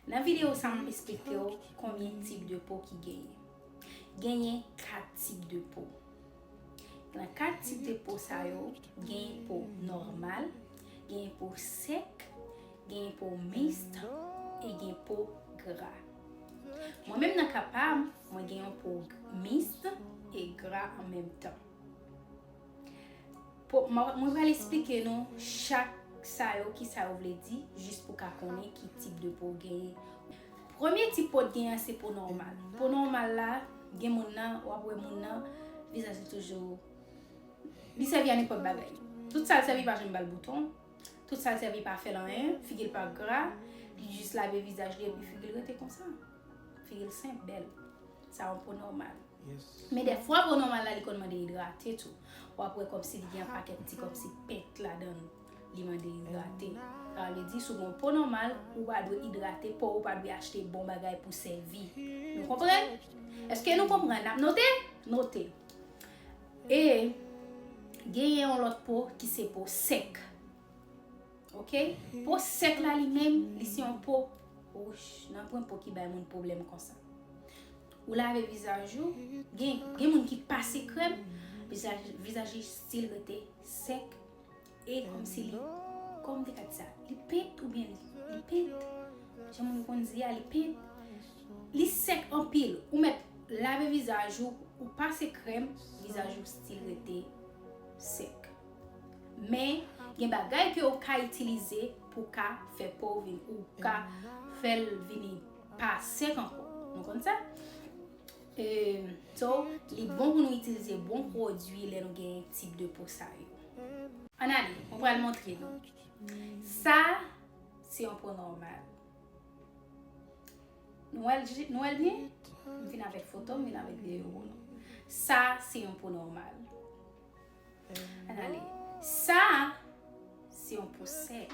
Nan video sa mwen esplike w konbyen tip de po ki genyen. Genyen 4 tip de po. Nan 4 tip de po sa yo, genyen po nòmal, genyen po sèk, genyen po mist e gen po gra. Mwen menm nan ka pa m, mwen gen yon po mist e gra an menm tan. Mwen pral esplike nou chak sa yo ki sa yo vle di jis pou ka konnen ki tip de po w genyen. Premye tip po w t genyen an se po nòmal. Po nòmal la gen moun nan w ap wè moun nan vizaj li toujou li sèvi a nenpòt bagay. Tout sa l sèvi pa janm ba l bouton, tout sa l sèvi pa fè l anyen, figi l pa gra, li jis lave vizaj li epi figi l rete konsa. Figi l senp, bèl. Sa yon po nòmal. Men dèfwa po nòmal la li konn mande idrate tou. Ou ap wè kòmsi li gen yon pakèt ti kòmsi pent ladan l. Li mande idrate. Sa vle di si w gen yon po nòmal, ou pa dwe idrate po w, ou pa dwe achte bon bagay pou sèvi. Nou konprann? Èske nou konprann? N ap note? Note. E genyen yon lòt po ki se po sèk. Ok? Po sèk la li menm, li se yon po wouch. Nanpwen po ki bay moun pwoblèm konsa. Ou lave vizaj ou, gen gen moun ki pase krèm, vizaj vizaj li stil rete sèk e kòmsi li kòman m te ka di sa, li pent oubyen li li pent jan moun konn di a li pent, li sèk anpil ou mèt lave vizaj ou, ou pase krèm, vizaj ou stil rete sèk men gen bagay ke ou ka itilize pou ka fè po ou vin ou ka fèl vini pa sèk ankò nou konn sa eeuh so li bon pou nou itilize bon pwodwi lè nou gen tip de po sa yo. Ann ale mwen pral montre nou sa se yon po nòmal nou wèl nou wèl byen m fin avèk foto m vin avèk videyo pou nou sa se yon po nòmal ann ale sa se yon po sèk.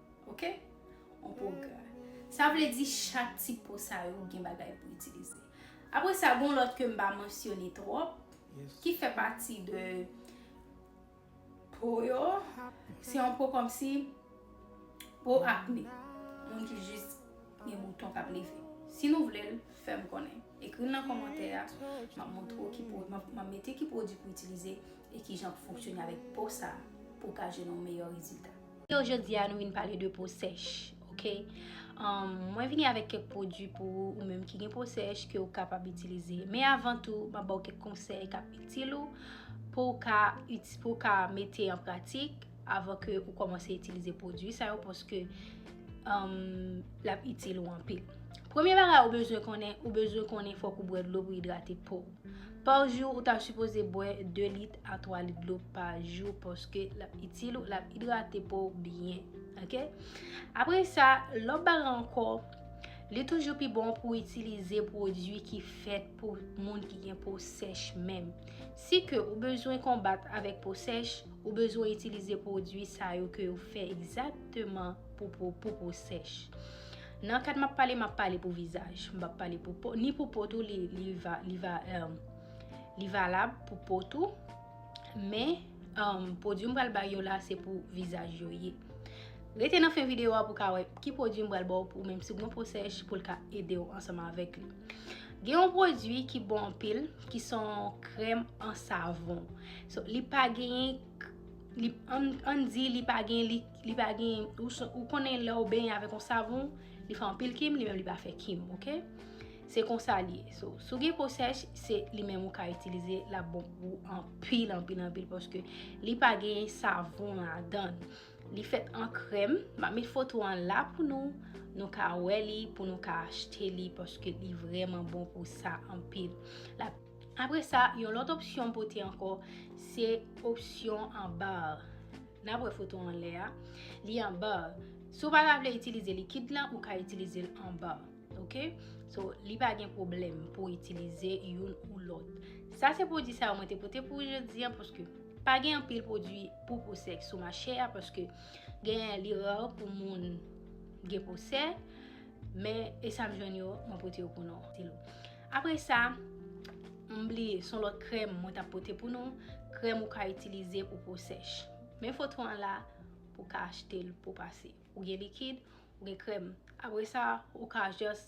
Ok? On po gra. Sa vle di chak ti po sa yo gen bagay pou itilize. Apre sa gen yon lòt ke m pa mansyone twòp ki fè pati de po yo. Se yon po kòmsi po akne. Moun ki jis gen bouton k ap leve. Si nou vle l, fè m konnen. Ekri l nan kòmantè a. M ap montre w ki po, m ap mete ki pwodui pou itilize e kijan pou fonksyone avèk po sa pou w ka jwenn yon meyè rezilta. Yo jodi a nou vin pale de po sèch ok mwen vini avèk kèk pwodwi pou ou menm ki gen po sèch ke ou kapab itilize men avan tou mwen baw kèk konsèy kap itil ou pou ou ka mete an pratik avan ke ou kòmanse itilize pwodwi sa yo paske lap itil ou anpil premye bagay ou bezwen konnen ou bezwen konnen fòk ou bwè dlo pou idrate pouw. Par jou ou ta sipoze bwè 2 lit a 3 lit dlo pa jou paske lap itil ou lap idrate pow byen ok apre sa lòt bagay ankò li toujou pi bon pou itilize pwodwi ki fèt pou moun ki gen po sèch menm si ke ou bezwen konbat avèk po sèch ou bezwen itilize pwodwi sa yo ke yo fè egzakteman pou po sèch. Nan kad map pale map pale pou vizaj m pap pale pou po ni pou po tou li valab pou po tou men pwodwi m pral bay yo la se pou vizaj yo ye rete nan fen videyo a pou ka wè ki pwodwi m pral baw pou menm si gon po sèch pou l ka ede w ansanm avèk li gen yon pwodwi ki bon anpil ki son krèm an savon li pa genyen Ann di li pa gen, li pa gen, ou konnen lè ou benyen avèk yon savon, li fè anpil kim, li menm li pa fè kim, ok? Se konsa li ye. So, si w gen po sèch, se li menm ou ka itilize, l ap bon pou ou anpil, anpil, anpil, paske li pa gen savon ladan l. Li fèt an krèm, m ap met foto an la pou nou, nou ka wè li, pou nou ka achte li, paske li vrèman bon pou sa anpil. Apre sa, yon lòt opsyon m pote ankò, se opsyon an ba a. N ap wè foto an lè a. Li an ba a. Si w pa ta vle itilize likid lan, ou ka itilize l an ba. Ok? So, li pa gen pwoblèm pou w itilize youn ou lòt. Sa se pwodui sa yo mwen te pote pou jodi an paske pa gen anpil pwodui pou po sèk sou mache a paske genyen li ra pou moun gen po sèk. Men, e sa m jwenn yo, mwen pote yo pou nou. Apre sa, m bliye, son lòt krèm mwen tap pote pou nou, krèm ou ka itilize pou po sèch. Men foto an la pou ka achte l pou pase. Ou gen likid, ou gen krèm. Apre sa, ou ka jès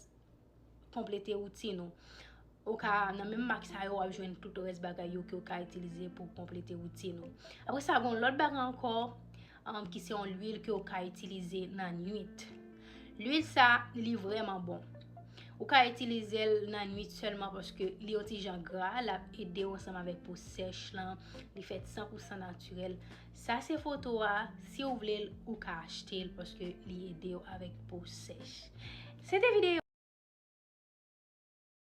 konplete woutin ou. Ou ka nan menm mak sa yo wap jwenn tout rès bagay yo ke ou ka itilize pou konplete woutin ou. Apre sa, gon lòt bagay ankò. ki se yon lwil ke ou ka itilize nan nwit. Lwil sa, li vreman bon. Ou ka itilize l nan nwit selman paske li yon ti jan gra, l ap ede w ansanm avèk po sèch lan, li fèt 100% natirèl. Sa se foto a, si ou vle l, ou ka achte l paske li ede w avèk po sèch. Se te videyo.